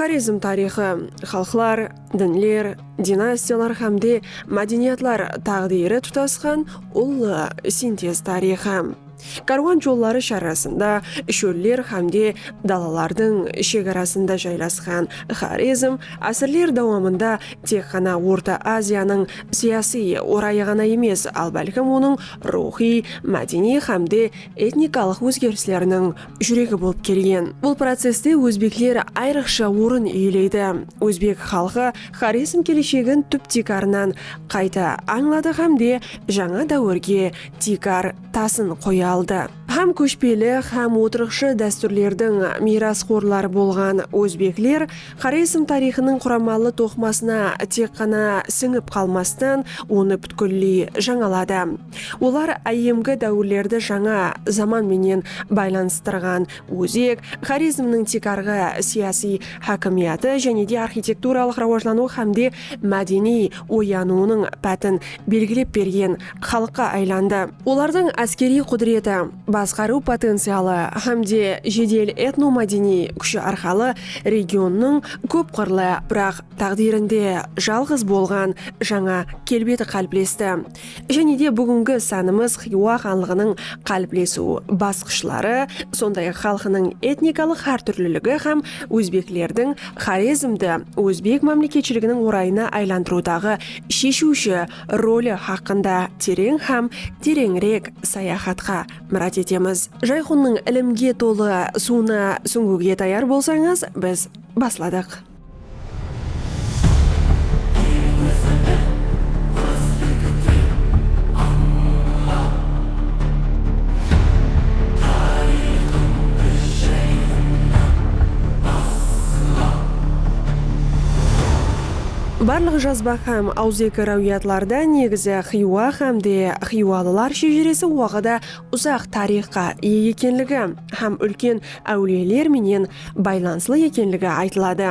Xorezm tariyxı, xalıqlar, dinler, dinastiyalar hámde mádeniyatlar táǵdiyri tutasqan ullı sintez tariyxı. Kárwan jolları sharrasında, shóller hámde dalalardıń shegarasında jaylasqan Xorezm ásirler dawamında tek ǵana Orta Aziyanıń siyasiy orayı ǵana emes, al bálkim onıń ruwxıy, mádeniy hámde etnikalıq ózgerisleriniń júregi bolıp kelgen. Bul processte ózbekler ayrıqsha orın iyeleydi. Ózbek xalqı Xorezm keleshegin túp-tiykarınan qayta ańladı hám de jańa dáwirge tiykar tasın qoya aldı. Hám kóshpeli, hám otırıqshı dástúrlerdiń miyrasxorları bolǵan ózbekler Xorezm tariyxınıń quramalı toqımasına tek ǵana sińip qalmastan, onı pútkilley jańaladı. Olar áyyemgi dáwirlerdi jańa zaman menen baylanıstırǵan ózek, Xorezmniń tiykarǵı siyasiy hákimiyatı jáne de arxitekturalıq rawajlanıwı hámde mádeniy oyanıwınıń pátin belgilep bergen xalıqqa aylandı. Olardıń áskeriy qúdireti, basqarıw potencialı hám de jedel etnomádeniy kúshi arqalı regionnıń kóp qırlı, biraq táǵdirinde jalǵız bolǵan jańa kelbeti qáliplesti. Jáne de búgingi sánimiz Xiywa xanlıǵınıń qáliplesiw basqıshları, sonday-aq xalqınıń etnikalıq hártúrliligi hám ózbeklerdiń Xorezmdi ózbek mámleketshiliginiń orayına aylandırıwdaǵı sheshiwshi roli haqqında tereń hám tereńirek sayaxatqa múrájat etemiz. Jayxunnıń ilimge tolı suwına súńgiwge tayar bolsańız, biz basladıq. Barlıq jazba hám awızeki ráwiyatlarda negizi Xiywa hám de xiywalılar shejeresi waqıda uzaq tariyxqa iye ekenligi hám úlken áwliyeler menen baylanıslı ekenligi aytıladı.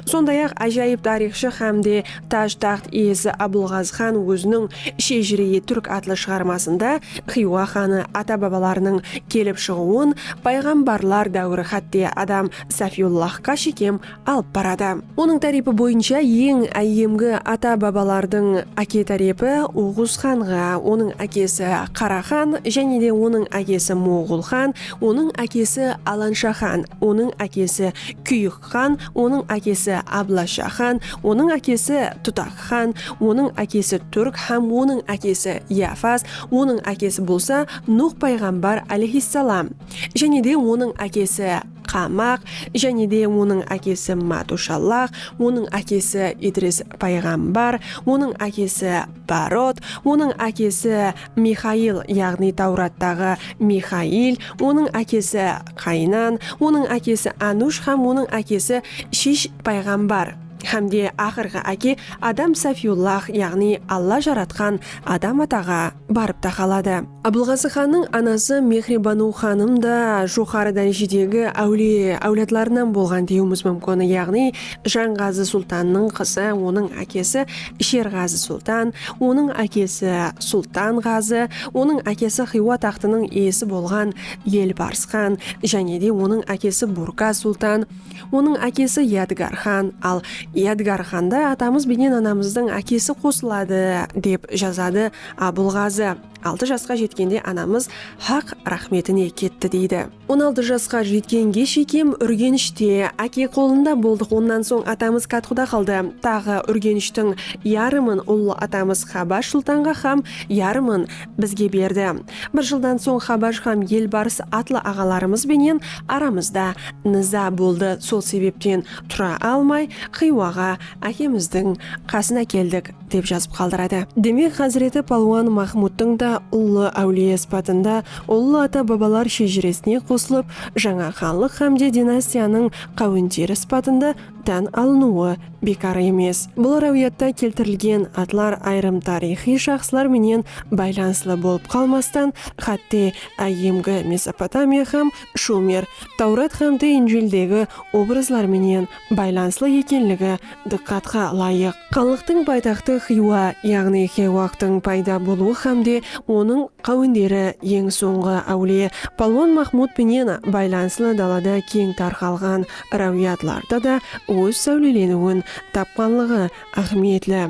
Sonday-aq, ájayıp tariyxshı hám de taj-taxt iyesi Abılǵazı xan óziniń Shejire-i túrk atlı shıǵarmasında Xiywa xanı ata-babalarınıń kelip shıǵıwın payǵambarlar dáwiri hátte Adam Safiyullahqa shekem alıp baradı. Onıń tárepi boyınsha eń áyyemgi ata-babalardıń áke tárepi Oǵuz xanǵa, onıń ákesi Qara xan, jáne de onıń ákesi Moǵol xan, onıń ákesi Alansha xan, onıń ákesi Kúyik xan, onıń ákesi Ablasha xan, onıń ákesi Tutak xan, onıń ákesi Túrk hám onıń ákesi Yafas, onıń ákesi bolsa Nuh payǵambar alayhissalam, jáne de onıń ákesi Qamaq, jáne de onıń ákesi Matushallax, onıń ákesi Idris payǵambar, onıń ákesi Barot, onıń ákesi Mixail, yaǵnıy Tawrattaǵı Mixail, onıń ákesi Qaynan, onıń ákesi Anush hám onıń ákesi Shish payǵambar, hám de aqırǵı áke Adam Safiyullax, yaǵnıy Alla jaratqan Adam ataǵa. barıp taqaladı. Abılǵazı xannıń anası Mexribanıw xanım da joqarı dárejedegi áwliye áwladlarınan bolǵan dewiimiz múmkin, yaǵnıy Janǵazı sultannıń qızı, onıń ákesi Sherǵazı sultan, onıń ákesi Sultan Ǵazı, onıń ákesi Xiywa taxtınıń iyesi bolǵan Elbarsxan, jánede onıń ákesi Burka sultan, Onıń ákesi Yadgar xan, al Yadgar xanda atamız benen anamızdıń ákesi qosıladı, dep jazadı Abılǵazı. Altı jasqa jetkende anamız Haq raxmetine ketti, deydi. On altı jasqa jetkenge shekem Úrgenishte, áke qolında boldıq, onnan soń atamız Katquda qaldı. Taǵı Úrgenishtiń yarımın ullı atamız Xabash sultanǵa xam yarımın bizge berdi. Bir jıldan soń Xabaj hám Elbars atlı aǵalarımız benen aramızda niza boldı, sol sebepten tura almay Xiywaǵa ákemizdiń qasına keldik, dep jazıp qaldıradı. Demek, Házireti Palwan Maxmudtıń da ullı áwliye sıpatında ullı ata-babalar shejiresine qosılıp, jańa xanlıq hám de dinastiyanıń qáwenderi sıpatında tán alınıwı bekar emes. Bul ráwiyatta keltirilgen atlar ayırım tariyxıy shaxslar menen baylanıslı bolıp qalmastan, xátte áyyemgi Mesopotamiya hám Shumer, Tawrat hámde Injildegi obrazlar menen baylanıslı ekenligi dıqqatqa ılayıq. Xanlıqtıń paytaxtı Xiywa, yaǵnıy Xewaqtıń payda bolıwı hámde onıń qáwenderi eń sońǵı áwliye Palwon Maxmud penen baylanıslı dalada keń tarqalǵan ráwiyatlarda da óz sáwleleniwin tapqanlıǵı áhmiyetli.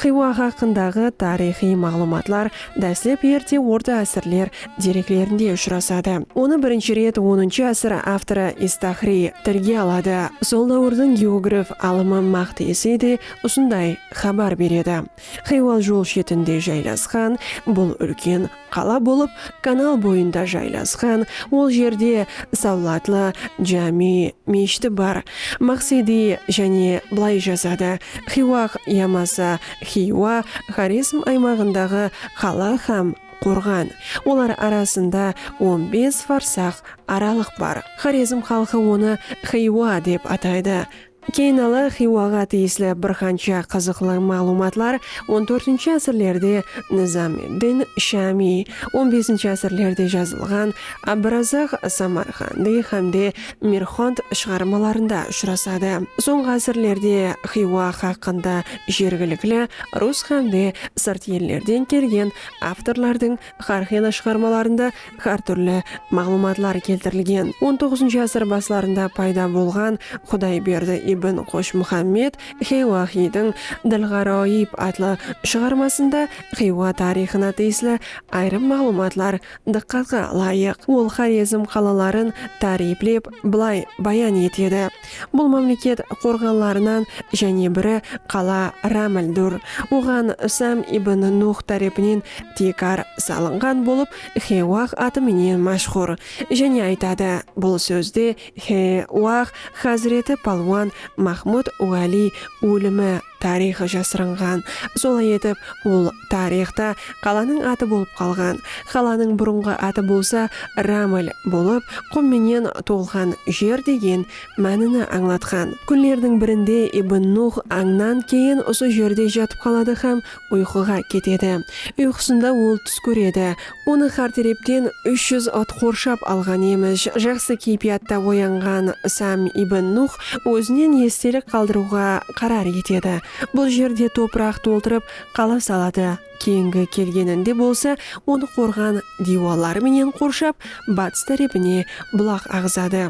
Xiywa haqqındaǵı tariyxıy maǵlıwmatlar dáslep erte orta ásirler dereklerinde ushırasadı. Onı birinshi ret onınshı ásir avtorı Istahriy tilge aladı. Sol dáwirdiń geograf alımı Maqtesi de usınday xabar beredi. Xiywa jol shetinde jaylasqan bul úlken Qala bolıp kanal boyında jaylasqan, ol jerde Sawlatlı jámi meshiti bar. Maqsedi jáne bılay jazadı, Xiwaq yamasa Xiywa Xorezm aymaǵındaǵı qala hám qorǵan. Olar arasında on bes farsaq aralıq bar. Xorezm xalqı onı Xiywa dep ataydı. Keyinala Xiywaǵa tiyisli bir qansha qızıqlı maǵlıwmatlar on tórtinshi ásirlerde Nizam ed-Din Shamiy, on besinshi ásirlerde jazılǵan Abdurazaq Samarqandiy hámde Mirxond shıǵarmalarında ushırasadı. Sońǵı ásirlerde Xiywa haqqında jergilikli rus hámde sırt ellerden kelgen avtorlardıń xárqıylı shıǵarmalarında hár túrli maǵlıwmatlar keltirilgen. On toǵızınshı ásir baslarında payda bolǵan Qudayberdi ibn Qoshmuhammed Xiywaxiydiń Dil-ǵaroyib atlı shıǵarmasında Xiywa tariyxına tiyisli ayırım maǵlıwmatlar dıqqatqa ılayıq. Ol Xorezm qalaların táriyplep bılay bayan etedi. Bul mámleket qorǵanlarınan jáne biri qala Rámildur, oǵan Sam ibn Nuh tárepinen tiykar salınǵan bolıp, Xewah atı menen máshhur. Jáne aytadı, bul sózde Xe-wah házreti palwan Mahmud Wáliy ólimi, tariyxı jasırınǵan. Solay etip, ol tariyxta qalanıń atı bolıp qalǵan. Qalanıń burınǵı atı bolsa Raml bolıp, qum menen tolǵan jer degen mánini ańlatqan. Kúnlerdiń birinde Ibn Nuh ańnan keyin usı jerde jatıp qaladı hám Uyqıǵa ketedi. Uyqısında ol tús kóredi. Onı xár terepten úsh júz at qorshap alǵan emish. Jaqsı keypiyatta oyanǵan Sam ibn Nuh ózinen estelik qaldırıwǵa qarar etedi. Bul jerde topıraq toltırıp qala saladı. Keyingi kelgeninde bolsa onı qorǵan diywalları menen qorshap, batıs tárepine bulaq aǵızadı.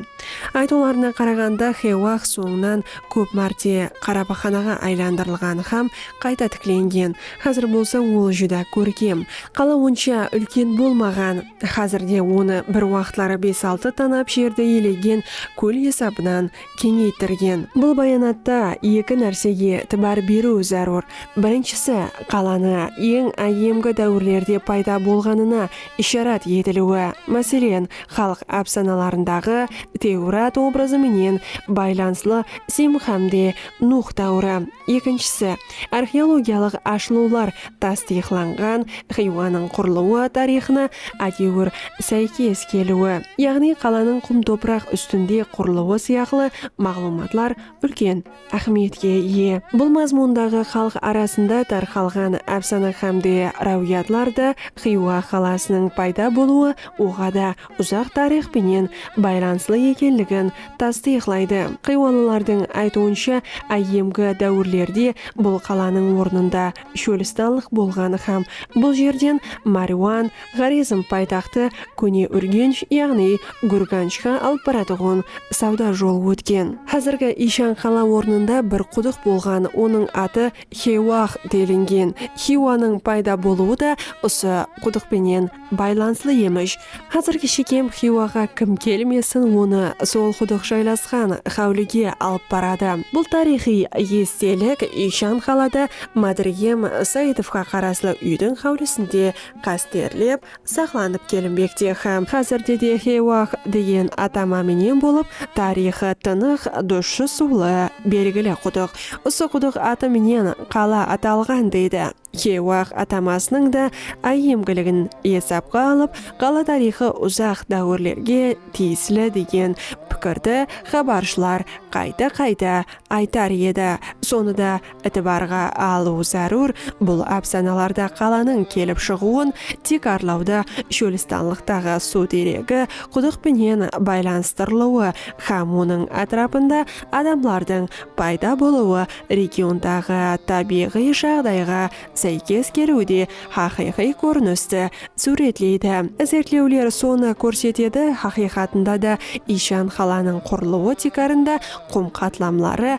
Aytıwlarına qaraǵanda Xewah sońınan kóp márte qarapaxanaǵa aylandırılǵan hám qayta tiklengen, házir bolsa ol júdá kórkem. Qala onsha úlken bolmaǵan, házir de onı bir waqıtları bes-altı tanap jerdi iyelegen kól esabınan keńeytirgen. Bul bayanatta eki nársege itibar beriw zárúr, birinshisi, qalanı eń áyyemgi dáwirlerde payda bolǵanına isharat etiliwi, máselen, xalıq ápsanalarındaǵı Tewrat obrazı menen baylanıslı Sem hám de Nuh dáwiri, ekinshisi, arxeologiyalıq ashılıwlar tastıyıqlanǵan Xiywanıń qurılıwı tariyxına ádewir sáykes keliwi, yaǵnıy qalanıń qum-topıraq ústinde qurılıwı sıyaqlı maǵlıwmatlar úlken áhmiyetke iye. Bul mazmundaǵı xalıq arasında tarqalǵan ápsana hám de ráwiyatlar da Xiywa qalasınıń payda bolıwı oǵada uzaq tariyx penen baylanıslı ekenligin tastıyıqlaydı. Xiywalılardıń aytıwınsha, áyyemgi dáwirlerde bul qalanıń ornında shólistanlıq bolǵan hám bul jerden Máriwan, Xorezm paytaxtı Kóne Úrgensh yaǵnıy Gúrganshqa alıp baratuǵın sawda jolı ótken. Házirgi Iyshan qala ornında bir qudıq bolǵan, onıń atı Xewah delingen. Xiywanıń payda bolıwı da usı qudıq penen baylanıslı emish. Házirgi Shekem Xiywaǵa kim kelmesin onı sol qudıq jaylasqan xáwlige alıp baradı. Bul tariyxıy estelik Iyshan qalada Mádirgem Saitovqa qaraslı úydiń xáwlisinde qásterlep saqlanıp kelinbekte hám házirde de Xiywa-aq degen atama menen bolıp, tariyxı tınıq, dushı suwlı, belgili qudıq. Usı qudıq atı menen qala atalǵan, deydi. Xiywa-aq atamasınıń da áyyemgiligin esapqa alıp, qala tariyxı uzaq dáwirlerge tiyisli degen pikirdi xabarshılar qayta-qayta aytar edi. Sonı da Itibarǵa alıw zárúr, bul ápsanalarda qalanıń kelip shıǵıwın tiykarlawda shólistanlıqtaǵı suw deregi qudıq penen baylanıstırılıwı hám onıń átirapında adamlardıń payda bolıwı regiondaǵı tábiyǵıy jaǵdayǵa sáykes keliwde haqıyqıy kórinisti súwretleydi. Izertlewler sonı kórsetedi, haqıyqatında da iyshan qalanıń qurılıwı tiykarında qum qatlamları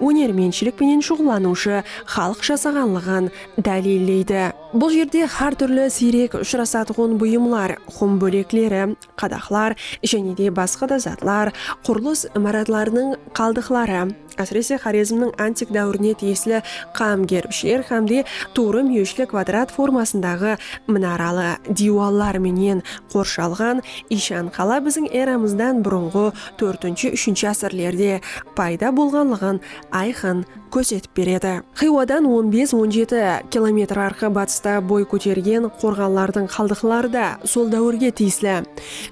ónermentshilik penen shuǵıllanıwshı xalıq jasaǵanlıǵın dáliylleydi. Bul jerde xár túrli siyrek ushırasatuǵın buyımlar, xum bólekleri, qadaqlar jáne de basqa da zatlar, qurılıs imaratlarınıń qaldıqları, ásirese Xorezmniń antik dáwirine tiyisli qam gerbshiler hám de tuwrı múyeshli kvadrat formasındaǵı minaralı diywallar menen qorshalǵan iyshan qala biziń eramızdan burınǵı Tórtinshi, úshinshi ásirlerde payda bolǵanlıǵın ayqın kórsetip beredi. Xiywadan on bes-on jeti kilometr arqı batısta boy kótergen qorǵanlardıń qaldıqları da sol dáwirge tiyisli.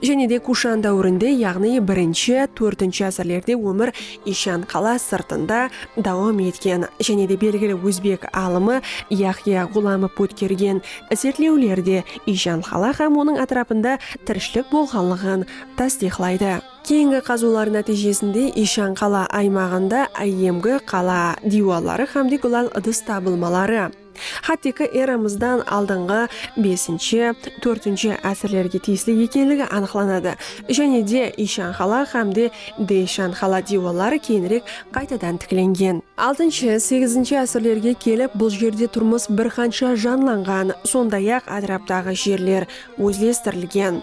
Jáne de Kushan dáwirinde, yaǵnıy birinshi, tórtinshi ásirlerde ómir Ishan qala sırtında dawam etken jáne de belgili ózbek alımı Yahya Ǵulamov ótkergen izertlewlerde Ishan qala hám onıń átirapında tirishilik bolǵanlıǵın tastıyıqlaydı. Keyingi qazıwlar nátiyjesinde Ishan qala aymaǵında áyyemgi qala diywalları hámde gúlal ıdıs tabılmaları HTK eramızdan aldınǵı besinshi, tórtinshi ásirlerge tiyisli ekenligi anıqlanadı jáne de Ishan qala hámde Deyshan qala diywalları keyinirek qaytadan tiklengen. Altınshı, segizinshi ásirlerge kelip bul jerde turmıs bir qansha janlanǵan, sonday-aq átiraptaǵı jerler ózlestirilgen.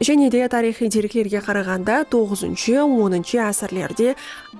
Jáne de tariyxıy dereklerge qaraǵanda toǵızıncı, onıncı ásirlerde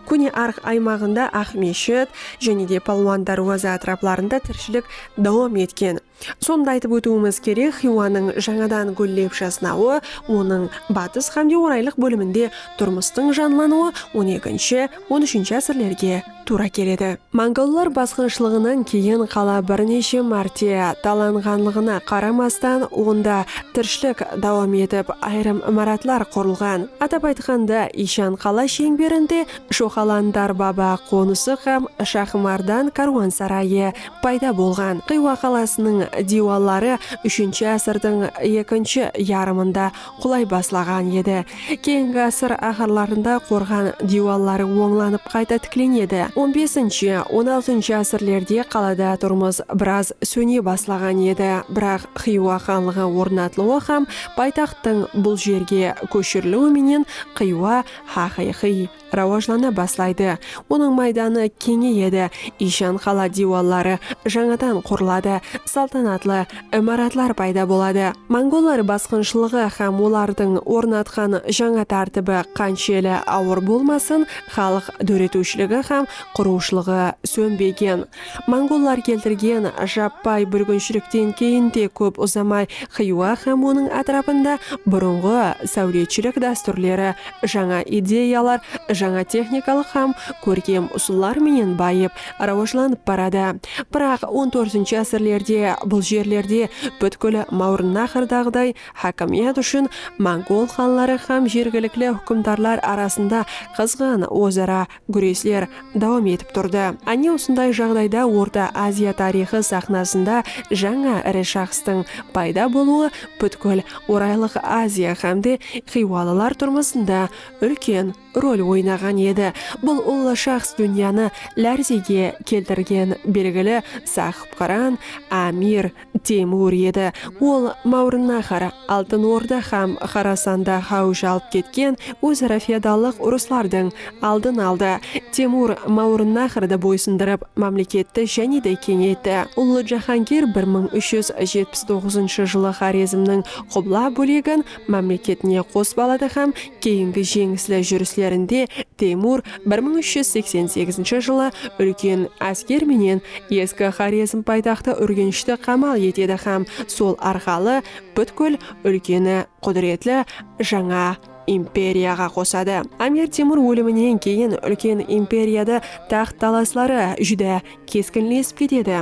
Kóne Arx aymaǵında Aqmeshit, jáne de Palwan Dárwaza átiraplarında tirishilik dawam etken. Sonı da aytıp ótiwimiz kerek, Xiywanıń jańadan gúllep jasnawı, onıń batıs xámde oraylıq bóliminde turmıstıń janlanıwı on ekinshi, on úshinshi ásirlerge tuwra keledi. Mongollar basqınshılıǵınan keyin qala bir neshe márte talanǵanlıǵına qaramastan, onda tirshilik dawam etip, ayırım imaratlar qurılǵan. Atap aytqanda, Iyshan qala sheńberinde Shoqalan Darbaba qonısı hám Shaxımardan kárwansarayı payda bolǵan. Xiywa qalasınıń diywalları úshinshi ásirdiń ekinshi yarımında qulay baslaǵan edi. Keyingi ásir áxirlarında qorǵan diywalları ońlanıp qayta tiklenedi. On besinshi, on altınshı ásirlerde qalada turmıs biraz sóne baslaǵan edi, biraq Xiywa xanlıǵı ornatılıwı hám paytaxttıń bul jerge kóshiriliwi menen Xiywa haqıyqıy. rawajlana baslaydı, onıń maydanı keńeyedi, iyshan qala diywalları jańadan qurıladı, saltanatlı imaratlar payda boladı. Mongollar basqınshılıǵı hám olardıń ornatqan jańa tártibi qanshelli awır bolmasın, xalıq dóretiwshiligi hám qurıwshılıǵı sónbegen, Mongollar keltirgen jappay búrginshilikten keyin de kóp uzamay Xiywa hám onıń átirapında burınǵı sáwletshilik dástúrleri, jańa ideyalar, jańa texnikalıq hám kórkem usıllar menen bayıp, rawajlanıp baradı. Biraq on tórtinshi ásirlerde bul jerlerde pútkil Máwrınnaxrdaǵıday hákimiyat ushın mongol xanları hám jergilikli húkimdarlar arasında qızǵın óz-ara gúresler dawam etip turdı. Áne usınday jaǵdayda Orta Aziya tariyxı saxnasında jańa iri shaxstıń payda bolıwı pútkil Oraylıq Aziya hám de xiywalılar turmısında úlken rol oynaǵan edi. Bul ullı shaxs dúnyanı lárzege keltirgen belgili Sahıpqıran, Amir, Teymur edi. Ol Máwrınnahar, Altın Orda hám Xorasanda háwij alıp ketken óz-ara feodallıq urıslardıń aldın aldı. Teymur Máwrınnahardı boysındırıp, mámleketti jáne de keńeytti. Ullı jáhángir bir mıń úsh júz jetpis toǵızınshı jılı Xorezmniń qubla bólegin, mámleketine qos baladı hám keyingi jeńisli júrislerinde Teymur bir mıń úsh júz seksen segizinshi jılı úlken ásker menen eski Xorezm paytaxtı Úrgenshti qamal etedi hám sol arqalı pútkil úlkeni qúdiretli jańa imperiyaǵa qosadı. Amir Temur óliminen keyin úlken imperiyadı taxt talasları júdá keskinlesip ketedi.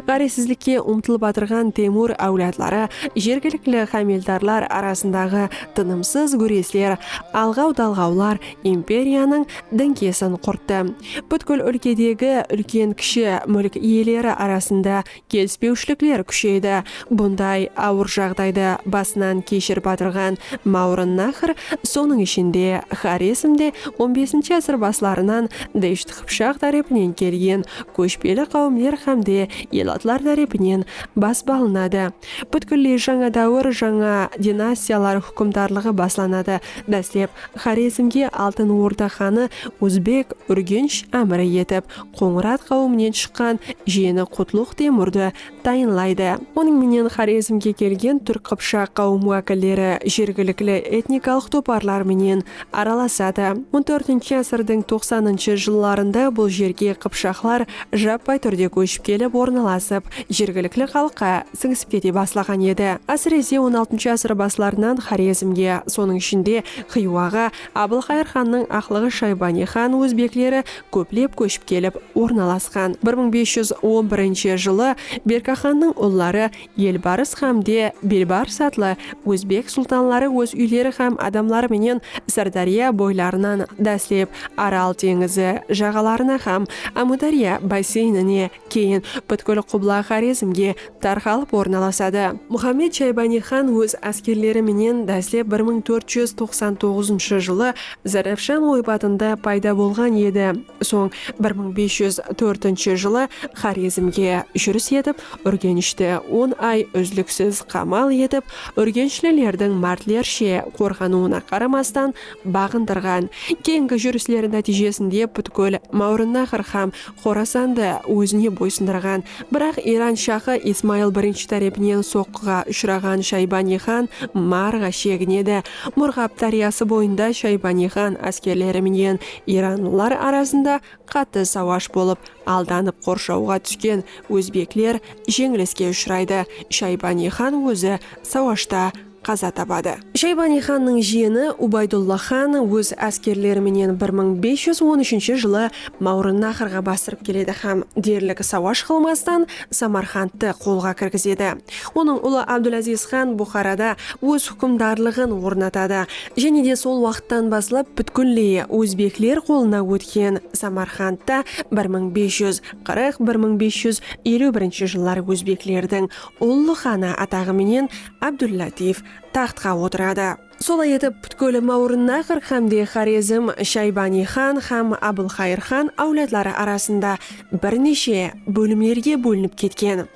Ǵárezsizlikke umtılıp atırǵan Temur áwladları, jergilikli hámeldarlar arasındaǵı tınımsız gúresler, alǵaw-dalǵawlar imperiyanıń dińkesin qurttı. Pútkil úlkedegi úlken-kishi múlk iyeleri arasında kelispewshilikler kúsheydi. Bunday awır jaǵdaydı basınan keshirip atırǵan Máwrınnahr, sonıń ishinde Xorezmde on besinshi ásir baslarınan Desht Qıpshaq tárepinen kelgen kóshpeli qáwimler hám de elatlar tárepinen basıp alınadı. Pútkilley jańa dáwir, jańa dinastiyalar húkimdarlıǵı baslanadı. Dáslep, Xorezmge Altın Orda xanı Ózbek, Úrgensh, ámiri etip, Qońırat qáwiminen shıqqan jiyeni Qutluq Temurdı tayınlaydı. Onıń menen Xorezmge kelgen túrk-qıpshaq qáwim wákilleri jergilikli etnikalıq toparlar menen aralasadı. On tórtinshi ásirdiń toqsanınshı jıllarında bul jerge qıpshaqlar jappay túrde kóship kelip ornalasıp, jergilikli xalıqqa sińisip kete baslaǵan edi. Ásirese on altınshı ásir baslarınan Xorezmge, sonıń ishinde Xiywaǵa Abılxayır xannıń aqlıǵı Shaybaniy xan ózbekleri kóplep kóship kelip ornalasqan. Bir mıń bes júz on birinshi jılı Berkaxannıń ulları Elbarıs hám de Belbarıs atlı ózbek sultanları óz úyleri hám adamları menen Sırdárya boylarınan dáslep Aral teńizi jaǵalarına hám Ámúdárya basseynine keyin pútkil qubla Xorezmge tarqalıp ornalasadı. Muxammed Shaybaniy xan óz áskerleri menen dáslep bir mıń tórt júz toqsan toǵızınshı jılı Zarafshan oypatında payda bolǵan edi, soń bir mıń bes júz tórtinshi jılı Xorezmge júris etip, Úrgenishti on ay úzliksiz qamal etip, úrgenshlilerdiń mártlershe qorǵanıwına qaramastan, baǵındırǵan keyingi júrisleri nátiyjesinde pútkil Máwrınnaxr hám Xorasandı ózine boysındırǵan, biraq Iran shahı Ismayıl birinshi tárepinen soqqıǵa ushıraǵan Shaybaniy xan Marǵa sheginedi. Murǵab dáryası boyında Shaybaniy xan áskerleri menen iranlılar arasında qattı sawash bolıp, aldanıp qorshawǵa túsken ózbekler jeńiliske ushıraydı. Shaybaniy xan ózi sawashta. qaza tabadı. Shaybaniy xannıń jiyeni Ubaydulla xan óz áskerleri menen bir mıń bes júz on úshinshi jılı Mawrınnahırǵa basırıp keledi hám derlik sawash qılmastan Samarqandtı qolǵa kirgizedi. Onıń ulı Abdulaziz xan Buxarada óz húkimdarlıǵın ornatadı jáne de sol waqıttan baslap pútkilley ózbekler qolına ótken Samarqandta bir mıń bes júz qırıq, bir mıń bes júz eliw birinshi jıllar ózbeklerdiń ullı xanı ataǵı menen Ábdul-Látif taxtqa otıradı. Solay etip, pútkil Máwrınnahır hámde Xorezm, Shaybaniy xan hám Abılxayır xan áwladları arasında bir neshe bólimlerge bólinip ketken.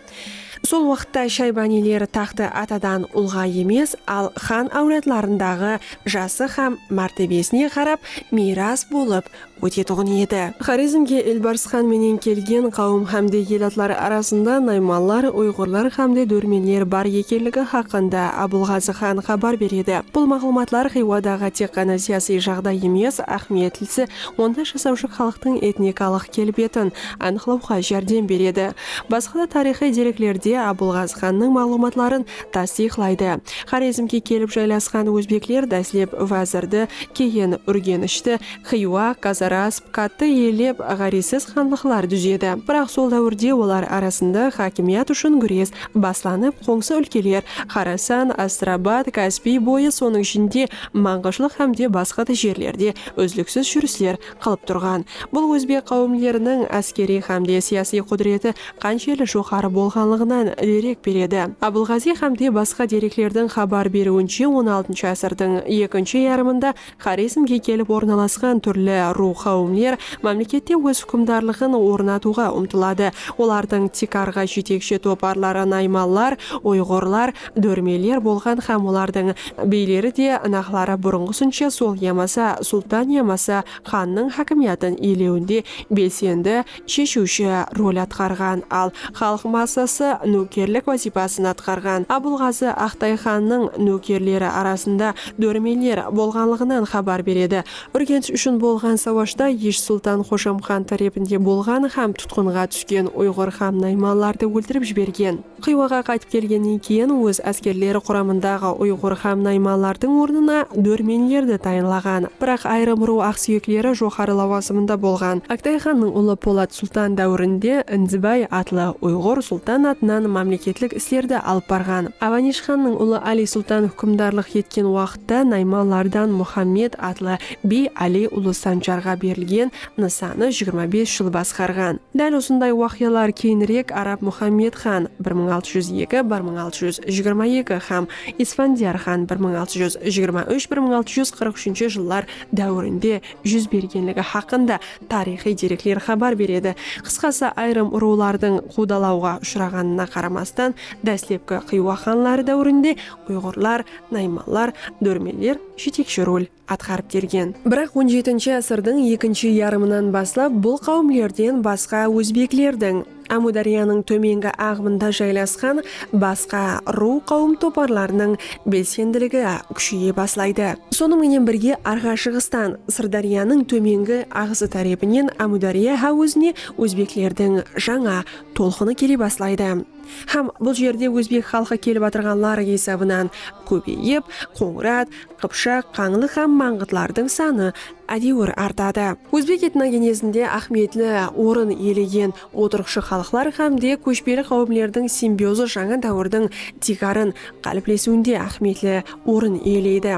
Sol waqıtta Shaybaniyler taxtı atadan ulǵa emes, al xan áwladlarındaǵı jası hám mártebesine qarap miyras bolıp ótetuǵın edi. Xorezmge Elbars xan menen kelgen qáwim xámde el atları arasında naymanlar, uyǵırlar xámde dórmenler bar ekenligi xaqqında Abılǵazı xan xabar beredi. Bul maǵlıwmatlar Xiyuadaǵı tek ǵana siyasiy jaǵday emes, áhmiyetlisi, onda jasawshı xalıqtıń etnikalıq kelbetin anıqlawǵa járdem beredi. Basqa da tariyxıy dereklerde Abılǵazı xannıń maǵlıwmatların tastıyıqlaydı. Xorezmge kelip jaylasqan ózbekler dáslep Wázirdi, keyin Úrgenishti, Xiywa, Qazara, Sıpqattı iyelep, ǵárezsiz xanlıqlar dúzedi. Biraq sol dáwirde olar arasında xákimiyat ushın gúres baslanıp, qońsı úlkeler, Xorasan, Astrabat, Kaspiy boyı, sonıń ishinde, Manǵıshlıq hám de basqa da jerlerde úzliksiz júrisler qılıp turǵan. Bul ózbek qáwimleriniń áskeriy hám de siyasiy qúdireti qanshelli joqarı bolǵanlıǵınan derek beredi. Abılǵaziy hám de basqa dereklerdiń xabar beriwinshe, on altınshı ásirdiń ekinshi yarımında Xorezmge kelip ornalasqan túrli ruw qáwimler mámlekette óz húkimdarlıǵın ornatıwǵa umtıladı. Olardıń tiykarǵı jetekshi toparları naymanlar, uyǵurlar, dórmeler bolǵan hám olardıń biyleri de naqları burınǵısınsha sol yamasa sultan yamasa xannıń hákimiyatın iyelewinde belsendi sheshiwshi rol atqarǵan, al xalıq massası nókerlik wazıypasın atqarǵan. Abılǵazı Aqtay xannıń nókerleri arasında dóremenler bolǵanlıǵınan xabar beredi. Úrgensh ushın bolǵan sawashta Ish sultan Xoshamxan tárepinde bolǵan hám tutqınǵa túsken uyǵır hám naymanlardı óltirip jibergen. Xiywaǵa qaytıp kelgennen keyin óz áskerleri quramındaǵı uyǵur hám naymanlardıń ornına dórmenlerdi tayınlaǵan. Biraq ayırım ruw aqsúyekleri joqarı lawazımında bolǵan. Oktay xannıń ulı Polat sultan dáwirinde Indibay atlı uyǵur sultan atınan mámleketlik islerdi alıp barǵan. Avanish xannıń ulı Ali sultan húkimdarlıq etken waqıtı. Uaqitta Naymanlardan Muxammed atlı biy Ali Ulı Sanjarǵa berilgen Nısannı jigirma bes jıl basqarǵan. Dál usınday uaqıyalar keyinirek Arab Muxammed xan, bir mıń altı júz eki, bir mıń altı júz jigirma eki, hám Isfandiyar xan, bir mıń altı júz jigirma úsh, bir mıń altı júz qırq úshinshi jıllar dáuirinde júz bergenligi haqqında tariyxıy derekler xabar beredi. Qısqası, ayırım urıwlardıń quwdalawǵa ushıraǵanına qaramastan, dáslepki Xiywa xanları dáuirinde Uyǵırlar, naymanlar, dórmeler jetekshi rol atqarıp kelgen. Biraq on jetinshi ásirdiń ekinshi yarımınan baslap bul qáwimlerden basqa ózbeklerdiń, Ámúdáryanıń tómengi aǵımında jaylasqan basqa ruw-qáwim toparlarınıń belsendiligi kúsheye baslaydı. Sonıń menen birge Arǵashıǵıstan, Sırdáryanıń tómengi aǵısı tárepinen Ámúdárya háwizine ózbeklerdiń jańa tolqını kele baslaydı. Hám bul jerde ózbek xalqı kelip atırǵanlar esabınan kóbeyip, qońırat, qıpshaq, qańlı hám mańǵıtlardıń sanı ádewir artadı. Ózbek etnogenezinde áhmiyetli orın iyelegen otırıqshı xalıqlar hám de kóshpeli qáwimlerdiń simbiozı jańa dáwirdiń tiykarın qáliplesiwinde áhmiyetli orın iyeleydi.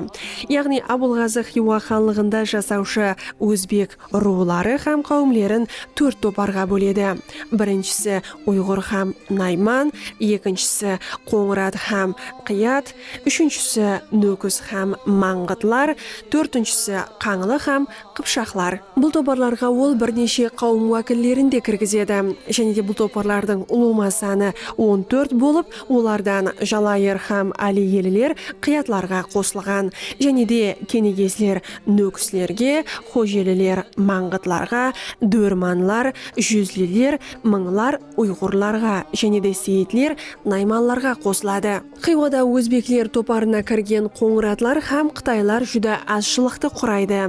Yaǵnıy Abulǵazı Xiywa xanlıǵında jasawshı ózbek, Ruwları hám qáwimlerin tórt toparǵa bóledi. Birinshisi, uyǵır hám nayman, ekinshisi, qońırat hám qıyat, úshinshisi, nókis hám mańǵıtlar, tórtinshisi, qańlı hám qıpshaqlar. Bul toparlarǵa ol bir neshe qáwim wákillerin de kirgizedi. Jáne de bul toparlardıń ulıwma sanı on tórt bolıp, olardan jalayır hám áliyeliler qıyatlarǵa qosılǵan. Jáne de, kenegesler, Nókislerge, xojeliler, mańǵıtlarǵa, dórmanlar, júzliler, mıńlar, uyǵurlarǵa, jáne de seyitler, naymanlarǵa qosıladı. Xiyuada ózbekler toparına kirgen qońıratlar hám qıtaylar júdá azshılıqtı quraydı.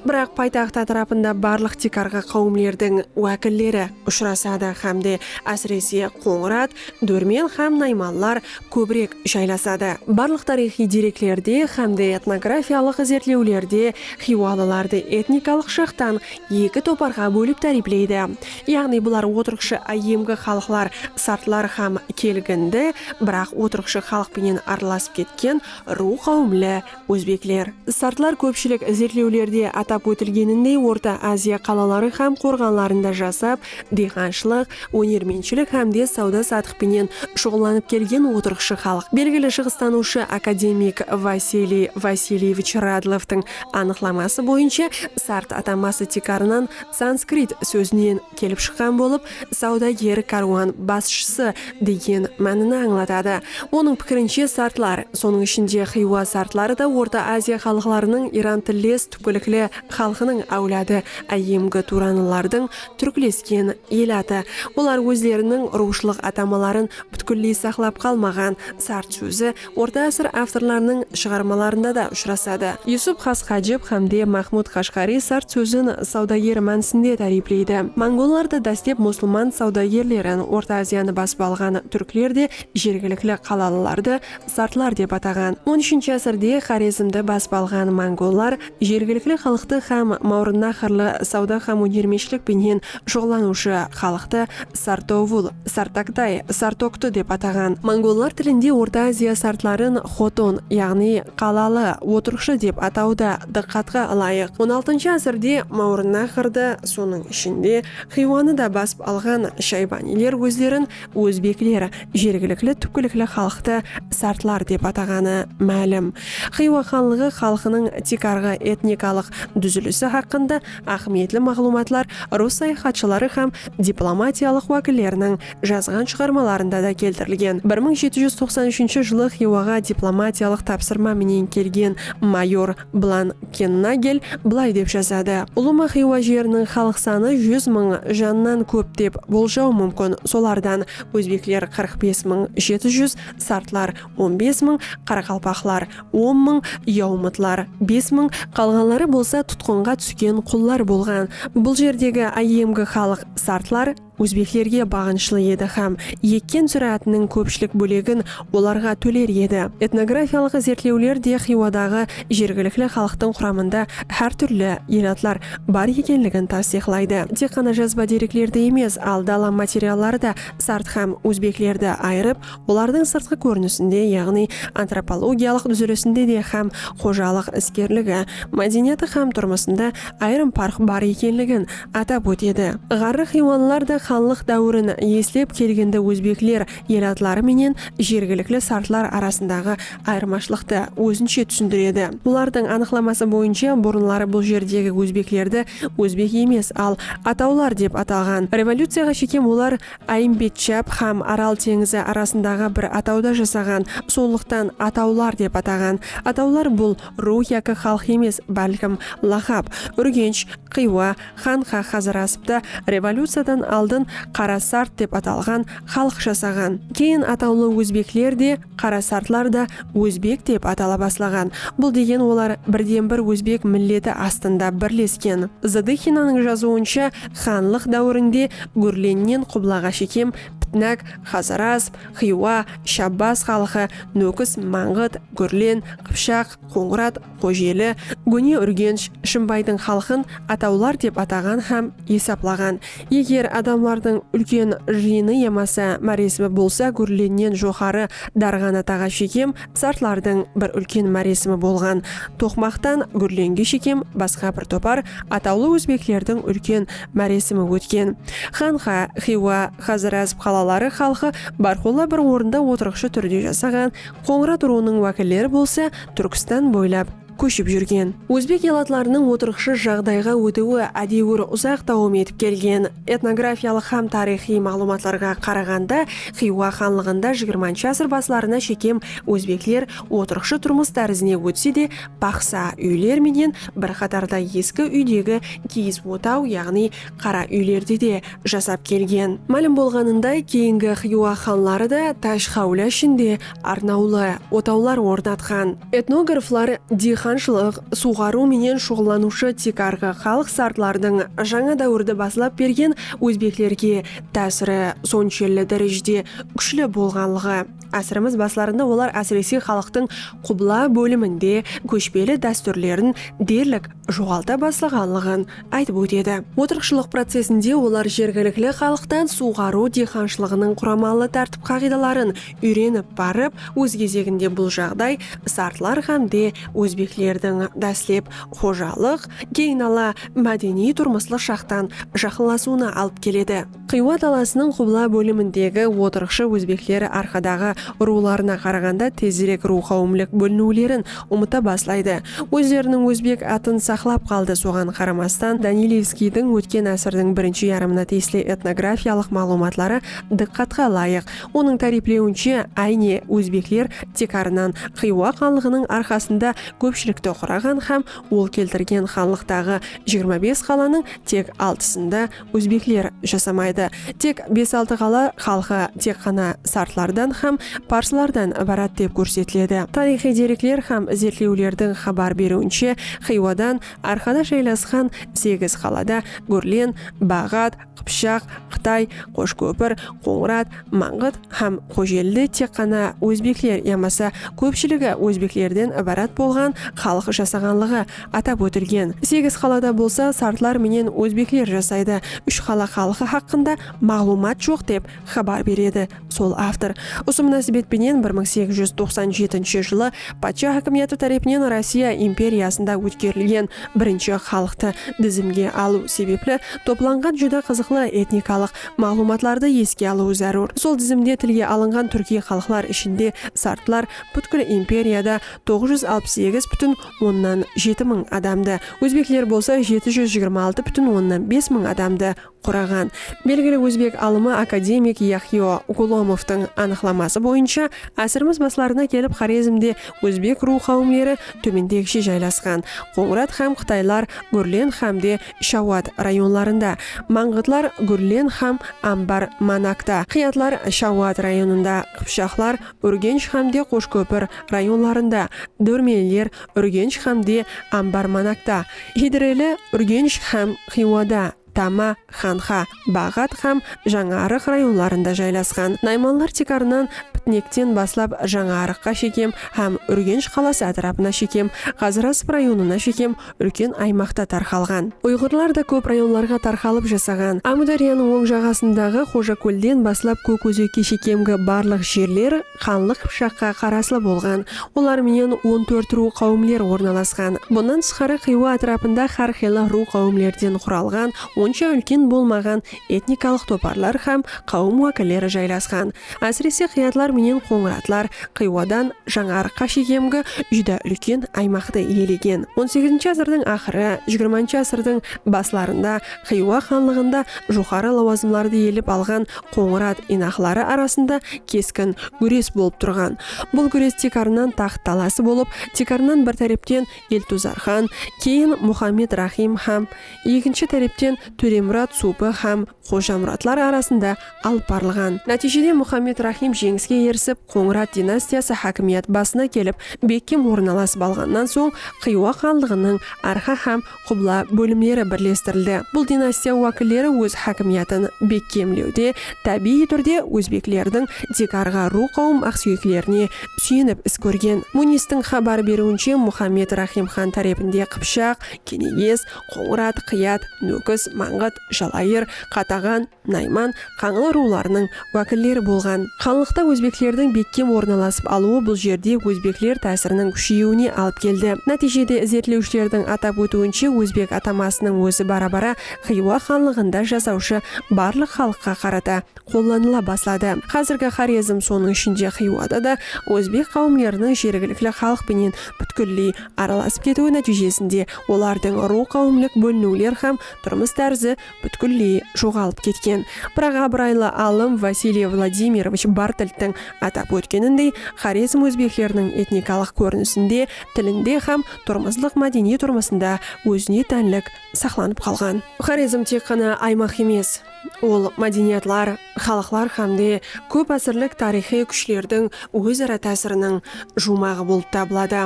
Biraq paytaxt átirapında barlıq tiykarǵı qáwimlerdiń wákilleri ushırasadı hám de, ásirese, qońırat, Dórmen hám naymanlar kóbirek jaylasadı. Barlıq tariyxıy dereklerde hám de etnografiyalıq izertlewlerde xiywalılardı etnikalıq jaqtan eki toparǵa bólip táripleydi, yaǵnıy bular otırǵıshı áyyemgi xalıqlar sartlar hám kelgindi, biraq otırǵıshı xalıq penen aralasıp ketken ruw qáwimli Ózbekler. Sartlar kópshilik izertlewlerde atap ótilgenindey Orta Aziya qalaları hám qorǵanlarında jasap, diyxanshılıq, ónermentshilik hám de sawda-satıq penen shuǵıllanıp kelgen otırıqshı xalıq. Belgili shıǵıstanıwshı akademik Vasiliy Vasilyevich Radlovtıń anıqlaması boyınsha sart atanbası tiykarınan sanskrit sózinen kelip shıqqan bolıp, Sawdager kárwan basshısı degen mánini ańlatadı. Onıń pikirinshe sartlar, sonıń ishinde Xiywa sartları da Orta Aziya xalıqlarınıń iran tilles túpkilikli xalqınıń áwladı, áyyemgi turanlılardıń túrklesken el atı. Olar ózleriniń ruwıshılıq atamaların pútkilley saqlap qalmaǵan, sart sózi Orta ásir avtorlarınıń shıǵarmalarında da ushırasadı. Yusup xas Xajib hám de Maxmud Qashǵariy sart sózin sawdager mánisinde táriypleydi. Mongollar da dáslep musılman sawdagerlerin, Orta Aziyanı basıp alǵan túrkler de jergilikli qalalılardı sartlar dep ataǵan. On úshinshi ásirde Xorezmdi basıp alǵan mongollar jergilikli xalıqtı hám mawrınnaharlı sawda hám ónermenshilik penen shuǵıllanıwshı xalıqtı Sartovul, Sartagtay, Sartogtı dep ataǵan. Mongollar tilinde Orta Aziya sartların xoton, yaǵnıy qalalı, otırıqshı dep ataw da dıqqatqa ılayıq. On altınshı ásirde Mawrınnahardı, sonıń ishinde, Xiywanı da basıp alǵan shaybaniyler ózlerin Ózbekler jergilikli túpkilikli xalıqtı sartlar dep ataǵanı málim. Xiywa xanlıǵı xalqınıń tiykarǵı etnikalıq dúzilisi haqqında áhmiyetli maǵlıwmatlar rus sayaxatshıları hám diplomatiyalıq wákilleriniń jazǵan shıǵarmalarında da keltirilgen. Bir mıń jeti júz toqsan úshinshi jılı Xiywaǵa diplomatiyalıq tapsırma menen kelgen mayor Blan Kennagel bılay dep jazadı, Ulıma Xiywa jeriniń xalıq sanı júz mıń jannan kóp dep boljau múmkin, solardan ózbekler qırq bes mıń jeti júz, sartlar on bes mıń, qaraqalpaqlar on mıń, yaumıtlar bes mıń, qalǵanları bolsa tutqınǵa túsken qullar bolǵan, bul jerdegi áyyemgi xalıq sartlar, Ózbeklerge baǵınıshlı edi hám ekken zúráátiniń kópshilik bólegin olarǵa tóler edi. Etnografiyalıq izertlewler de Xiyuadaǵı jergilikli xalıqtıń quramında hár túrli elatlar bar ekenligin tastıyıqlaydı. Tek ǵana jazba dereklerdi emes, al dala materialları da sart hám ózbeklerdi ayırıp, olardıń sırtqı kórinisinde, yaǵnıy antropologiyalıq dúzilisinde de hám xojalıq iskerligi, mádeniyatı hám turmısında ayırım parq bar ekenligin Atap ótedi. Ǵarrı xiywanlılar da xanlıq dáwirin eslep kelgindi ózbekler el atları menen jergilikli sartlar arasındaǵı ayırmashılıqtı ózinshe túsindiredi. Bulardıń anıqlaması boyınsha burınları bul jerdegi ózbeklerdi ózbek emes al atawlar dep atalǵan. Revolyuciyaǵa shekem olar Áyimbetshap xám Aral teńizi arasındaǵı bir atawda jasaǵan sonlıqtan atawlar dep ataǵan. Atawlar bul Ruw yaki xalıq emes, bálkim, laqap, Úrgensh, Xiywa, Xanxa Xazarasıptı revolyuciyadan aldın Qarasart dep atalǵan xalıq jasaǵan. Keyin atawlı ózbekler de, Qarasartlar da ózbek dep atala baslaǵan. Bul degen olar birden-bir ózbek milleti astında birlesken. Zadıxinanıń jazıwınsha, xanlıq dáwirinde Gúrlennen Qublaǵa shekem Pitnak, Xazarasp, Xiywa, Shabbaz xalqı, Nókis, Mańǵıt, Gúrlen, Qıpshaq, Qońırat, Xojeli, góne Úrgensh, Shımbaydıń xalqın atawlar dep ataǵan hám esaplaǵan. Eger adamlardıń úlken jıyını yamasa máresimi bolsa Gúrlennen joqarı Darǵanataǵa shekem sartlardıń bir úlken máresimi bolǵan. Toqmaqtan Gúrlenge shekem basqa bir topar atawlı ózbeklerdiń úlken máresimi ótken. Xanxa, Xiywa, Xazar ázip qalaları xalqı bárqulla bir orında otırıqshı túrde jasaǵan, Qońırat urıwınıń wákilleri bolsa Túrkstan boylap kóship júrgen. Ózbek elatlarınıń otırıqshı jaǵdayǵa ótiwi ádewir uzaq dawam etip kelgen. Etnografiyalıq hám tariyxıy maǵlıwmatlarǵa qaraǵanda, Xiywa xanlıǵında jigirmanshı ásir baslarına shekem ózbekler otırıqshı turmıs tárizine ótse de, baqsa, úyler menen bir qatarda eski úydegi kiyiz otaw, yaǵnıy Qara úylerde de jasap kelgen. Málim bolǵanınday, keyingi Xiywa xanları da Tásh-Xáwla ishinde arnawlı otawlar ornatqan. Etnograflar diyxanshılıq, suwǵarıw menen shuǵıllanıwshı tiykarǵı xalıq sartlardıń jańa dáwirdi baslap bergen ózbeklerge tásiri sonshelli dárejede kúshli bolǵanlıǵı, ásirimiz baslarında olar ásirese xalıqtıń qubla bóliminde kóshpeli dástúrlerin derlik joǵalta baslaǵanlıǵın aytıp ótedi. Otırıqshılıq procesinde olar jergilikli xalıqtan suwǵarıw diyqanshılıǵınıń quramalı tártip-qaǵıydaların úyrenip barıp, óz gezeginde bul jaǵday sartlar hám de ózbeklerdiń dáslep xojalıq, keyin ala mádeniy-turmıslıq jaqtan jaqınlasıwına alıp keledi. Xiywa dalasınıń qubla bólimindegi otırıqshı ózbekler arqadaǵı urıwlarına qaraǵanda tezirek ruwxawımlik bóliniwlerin umıta baslaydı. Ózleriniń ózbek atın saqlap qaldı, soǵan qaramastan Danilevskiydiń ótken ásirdiń birinshi yarımına tiyisli etnografiyalıq maǵlıwmatları dıqqatqa ılayıq. Onıń táriyplewinshe, áyne, ózbekler tiykarınan Xiywa xanlıǵınıń arqasında kópshilikti quraǵan hám ol keltirgen xanlıqtaǵı jigirma bes qalanıń tek altısında Ózbekler jasamaydı. Tek bes-altı qala xalqı tek ǵana sartlardan hám parslardan ibarat dep kórsetiledi. Tariyxıy derekler hám izertlewlerdiń xabar beriwinshe, Xiywadan arqada jaylasqan segiz qalada Gúrlen, Baǵat, Qıpshaq, Qıtay, Qoshkópir, Qońırat, Mańǵıt hám Xojelide tek ǵana ózbekler yamasa kópshiligi ózbeklerden ibarat bolǵan xalıq jasaǵanlıǵı atap ótilgen. Segiz qalada bolsa sartlar menen ózbekler jasaydı. Úsh qala xalqı haqqında maǵlıwmat joq dep xabar beredi sol avtor. Usı múnásibet penen bir mıń segiz júz toqsan jetinshi jılı patsha hákimiyatı tárepinen Rossiya imperiyasında ótkerilgen birinshi xalıqtı dizimge alıw sebepli toplanǵan júdá qızıqlı etnikalıq maǵlıwmatlardı eske alıwı zárúr. Sol dizimde tilge alınǵan túrkiy xalıqlar ishinde sartlar pútkil imperiyada toǵız júz alpıs segiz pútin onnan jeti mıń adamdı, ózbekler bolsa jeti júz jigirma altı pútin onnan bes mıń adamdı quraǵan. Belgili ózbek alımı akademik Yahyo Golomovtıń anıqlaması boyınsha, ásirimiz baslarına kelip Xorezmde ózbek ruw qáwimleri tómendegishe jaylasqan, Qońırat hám qıtaylar, gúrlen hám de Shawat rayonlarında, Mańǵıtlar, Gúrlen hám Ambar, Manakta, Qıyatlar, Shawat rayonında, Qıpshaqlar, Úrgensh hámde Qoshkópir rayonlarında, Dórmenler, Úrgensh hámde Ambar, Manakta, Hidreli, Úrgensh hám Xiyuada, Tama, Xanxa, Baǵat hám Jańarıq rayonlarında jaylasqan. Naymanlar tiykarınan Pitnekten baslap Jańarıqqa shekem hám Úrgensh qalası átirapına shekem, Ǵazırasp rayonına shekem úlken aymaqta tarqalǵan. Uyǵırlar da kóp rayonlarǵa tarqalıp jasaǵan. Ámúdáryanıń oń jaǵasındaǵı Xojakólden baslap Kókózekke shekemgi barlıq jerler Xanlıq Qıpshaqqa qaraslı bolǵan, olar menen on tórt ruw qáwimler ornalasqan. Bunnan tısqarı Xiywa átirapında xár qıylı ruw qáwimlerden quralǵan, onsha úlken bolmaǵan etnikalıq toparlar hám qáwim wákilleri jaylasqan. Ásirese qıyatlar menen qońıratlar Xiywadan Jańarıqqa shekemgi júdá úlken aymaqtı iyelegen. On segizinshi ásirdiń aqırı, jigirmanshı ásirdiń baslarında Xiywa xanlıǵında joqarı lawazımlardı iyelep alǵan Qońırat inaqları arasında keskin gúres bolıp turǵan. Bul gúres tiykarınan taxt talası bolıp, tiykarınan bir tárepten Eltuzar xan, keyin Muxammed Raxim hám ekinshi tárepten Tóremurat Supı hám Xojamuratlar arasında alıp barılǵan. Nátiyjede Muxammed Raxim jeńiske erisip, Qońırat dinastiyası hákimiyat basına kelip, bekkem ornalasıp alǵannan soń, Xiywa xanlıǵınıń arxa hám Qubla bólimleri birlestirildi. Bul dinastiya wákilleri óz hákimiyatın bekkemlewde tábiyiy túrde ózbeklerdiń tiykarǵı ruw qáwim aqsúyeklerine súyenip is kórgen. Munistiń xabar beriwinshe Muxammed Raxim xan tárepinde Qıpshaq, Keneges, Qońırat, Qıyat, Nókis, Mańǵıt, Jalayır, Qataǵan, Nayman, Qańlı ruwlarınıń wákilleri bolǵan. Xanlıqta ózbeklerdiń bekkem orın alasıp alıwı bul jerde ózbekler tásiriniń kúsheyiwine alıp keldi. Nátiyjede izertlewshilerdiń atap ótiwinshe ózbek atamasınıń ózi bara-bara Xiywa xanlıǵında jasawshı barlıq xalıqqa qarata qollanıla basladı. Xázirgi Xorezm, sonıń ishinde Xiyuada da ózbek qáwimleriniń jergilikli xalıq penen pútkilley aralasıp ketiwi nátiyjesinde olardıń ruw-qáwimlik bóliniwler hám turmıs tárzi pútkilley joǵalıp ketken. Biraq abıraylı alım Vasiliy Vladimirovich Bartlttiń atap ótkenindey, Xorezm ózbekleriniń etnikalıq kórinisinde, tilinde hám turmıslıq mádeniy turmısında ózine tánlik saqlanıp qalǵan. Xorezm tek ǵana aymaq emes, ol mádeniyatlar, xalıqlar hám de kóp ásirlik tariyxıy kúshlerdiń óz-ara tásiriniń juwmaǵı bolıp tabıladı.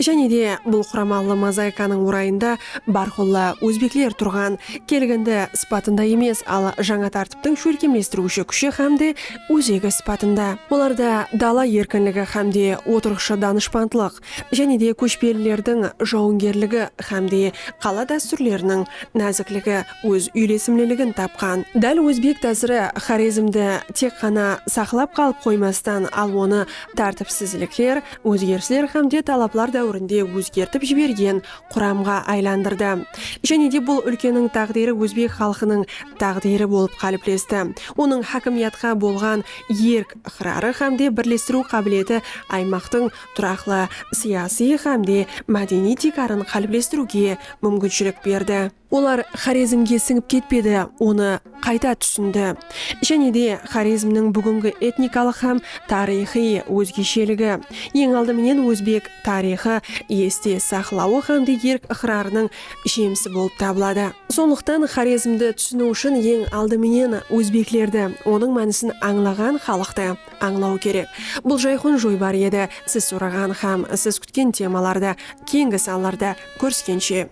Jáne de bul quramallı mozaikanıń orayında bárqulla ózbekler turǵan kelgindi sıpatında emes, al jańa tártiptiń shólkemlestiriwshi kúshi hám de ózegi sıpatında. Olarda dala erkinligi hám de otırıqshı danıshpandlıq, jáne de kóshpelilerdiń jawıngerligi hám de qala dástúrleriniń názikligi óz úylesimliligin tapqan. Dál ózbek tásiri Xorezmdi tek ǵana saqlap qalıp qoymastan, al onı tártipsizlikler, ózgerisler hámde talaplar dáwirinde ózgertip jibergen quramǵa aylandırdı. Jáne de bul úlkeniń táǵdiri ózbek xalqınıń táǵdiri bolıp qáliplesti. Onıń hákimiyatqa bolǵan erk-ıqrarı hámde birlestiriw qábileti aymaqtıń turaqlı siyasiy hámde mádeniy tiykarın qáliplestiriwge múmkinshilik berdi. Olar Xorezmge sińip ketpedi, onı qayta túsindi. Jáne de, Xorezmniń búgingi etnikalıq hám tariyxıy ózgesheligi, eń aldı menen ózbek tariyxı este saqlawı hám de erk-ıqrarınıń jemisi bolıp tabıladı. Sonlıqtan Xorezmdi túsiniw ushın eń aldı menen ózbeklerdi, onıń mánisin ańlaǵan xalıqtı ańlaw kerek. Bul jayqun joybar edi. Siz soraǵan hám siz kútken temalardı keńgi sanlarda kóriskenshe.